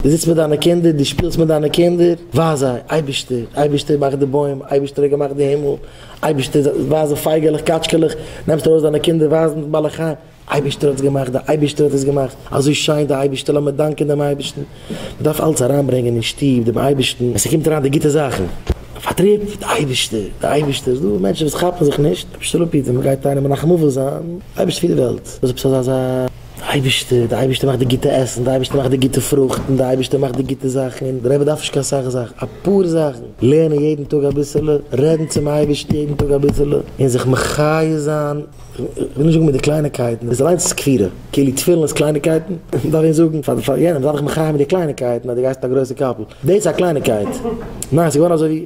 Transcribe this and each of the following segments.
דו זיצט מיט דיינע קינדער, דו שפילסט מיט דיינע קינדער, ווייז זיי, אייבערשטער, אייבערשטער מאכט די בוים, אייבערשטער האט געמאכט די הימל, אייבערשטער, ווייז די פייגעלעך, קאטשקעלעך, נעמסט ארויס דיינע קינדער ווייזן די בעלי חיים, אייבערשטער האט עס געמאכט, דער אייבערשטער האט עס געמאכט, אזוי שיין דער אייבערשטער, לאמיר דאנקען דעם אייבערשטן, מען דארף אלץ אריינברענגען אין שטוב דעם אייבערשטן, ווען ס'קומט אריין די גוטע זאכן, פארטריב, דער אייבערשטער, דער אייבערשטער, ס'איז דא מענטשן וואס כאפן זיך נישט, אייבערשטער לאמיר בעטן, מען גייט איינעם מנחם אבל זיין, אייבערשטער פון די וועלט, וואס איז עפעס אזא. דער אייבערשטער, דער אייבערשטער מאכט די גוטע עסן, דער אייבערשטער מאכט די גוטע פרוכטן, דער אייבערשטער מאכט די גוטע זאכן, און דער רבי דארף נישט קיין סאך זאכן, אפאר זאכן, לערנען יעדן טאג אביסעלע, רעדן צום אייבערשטן יעדן טאג אביסעלע, און זיך מחי' זיין, איך וויל נישט זאגן מיט די קלייניקייטן, דאס אליינס איז כפירה, כאילו תפילין איז קלייניקייטן, מען דארף ווען זאגן פאר יענעם, זיי דיך מחי' מיט די קלייניקייטן אז דו גייסט אין א גרויסע קאפל, דאס איז א קלייניקייט, ניין ס'איז געווארן אזוי ווי.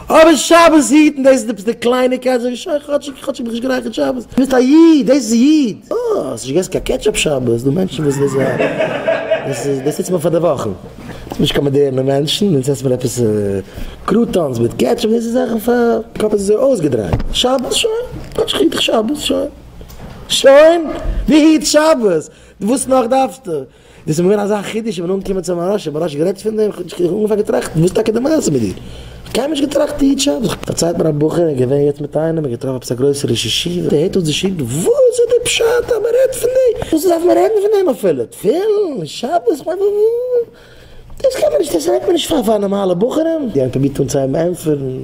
אבער שבת היטן דאס איז עפעס די קלייניקייט זאג איך שוין כאטשיג כאטשיג האב איך נישט גערייכערט שבת דו ביסט א איד דאס איז איד אה האסט נישט געגעסן קיין קעטשאפ שבת דו מענטשן וואס דאס דאס איז דאס איז מיר פאר די וואכן דאס איז נישט קיין מאדערנע מענטשן אונז עסט מען עפעס קרוטאנס מיט קעטשאפ דאס איז זאכן פאר קאפ איז אזוי אויסגעדרייט שבת שוין כאטשיג היט איך שבת שוין שוין דו היטסט שבת וואס נאך דארפסטו. דאס איז מיר געווען אזא חידוש, איך בין אנגעקומען צום מהרש א, מהרש א רעדט פון דעם, איך האב אנגעפאנגען געטראכטן, וואס איז טאקע די מעשה מיט דיר? איך האב קיינמאל נישט געטראכט די איד שבת. פארציילט מיר א בחור, ער איז געווען יעצט מיט איינעם, און געטראפן עפעס א גרויסע ראש ישיבה, ער הערט אויס די שיעור, וואס איז די פשט אז מען רעדט פון דעם? וואס דארף מען רעדן פון דעם אפילו? תפילין? שבת? איך מיין דאס קען מען נישט, דאס רעדט מען נישט פאר נארמאלע בחורים. איך האב פרובירט אנצוהייבן ענטפערן.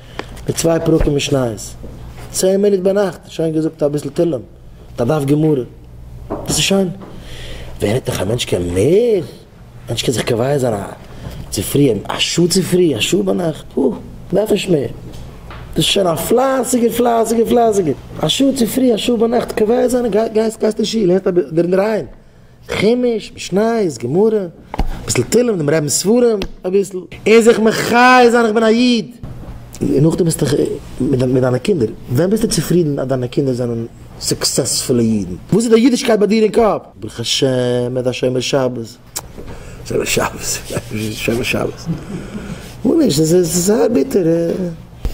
מיט צוויי פרקים משניות, צען מינוט ביינאכט, שוין געזאגט אביסל תהלים, מיט א דף גמרא, דאס איז שיין? ווער רעדט נאך א מענטש קען מער, א מענטש קען זיך קובע זיין א צופרי, א שעה צופרי, א שעה ביינאכט, הו, מ'דארף נישט מער, דאס איז שוין א פלייסיגער פלייסיגער פלייסיגער, א שעה צופרי א שעה ביינאכט קובע זיין, גייסט אין שול, הערסט אביסל דערין אריין. חומש, משניות, גמרא, אביסל תהלים, דעם רבינ'ס ספרים, אביסל. און זיך מחיה זיין איך בין א איד! און נאכדעם ביסט דאך מיט דיינע קינדער, ווען ביסטו צופרידן אז דיינע קינדער זענען סוקסעספולע אידן? וואס איז די אידישקייט ביי דיר אין קאפ? ברוך השם ער איז א שומר שבת. שומר שבת? שומר שבת? גאר נישט, עס איז זייער ביטער.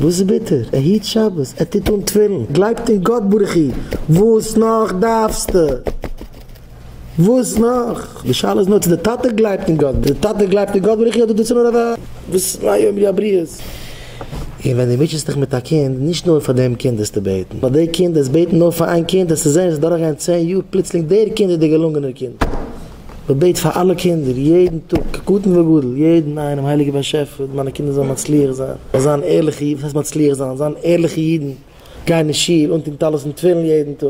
וואס איז ביטער? ער היט שבת, ער טוט אן תפילין, גלייבט אין גאט ברוך הוא, וואס נאך דארפסטו? וואס נאך? די שאלה איז נאר צו די טאטע גלייבט אין גאט, די טאטע גלייבט אין גאט ברוך הוא אדער דאס איז נאר אזא וואס מה יאמרו הבריות. און ווען די מוטשעסט דיך מיט א קינד, נישט נאר פאר דעם קינד דארפסטו בעטן, ווייל די קינד דארפסט בעטן נאר פאר איין קינד, וועסטו זען עס וועט דורך גיין צען יאר פלוצלינג דער קינד איז דער געלונגענער קינד. מען בעט פאר אלע קינדער יעדן טאג כקטן וגדול, יעדן איינעם הייליגער באשעפער מיינע קינדער זאלן מצליח זיין, זאלן זיין ערליכע אידן, וואס הייסט מצליח זיין? זיין ערליכע אידן, גיין אין שול, אנטון טלית און תפילין יעדן טאג.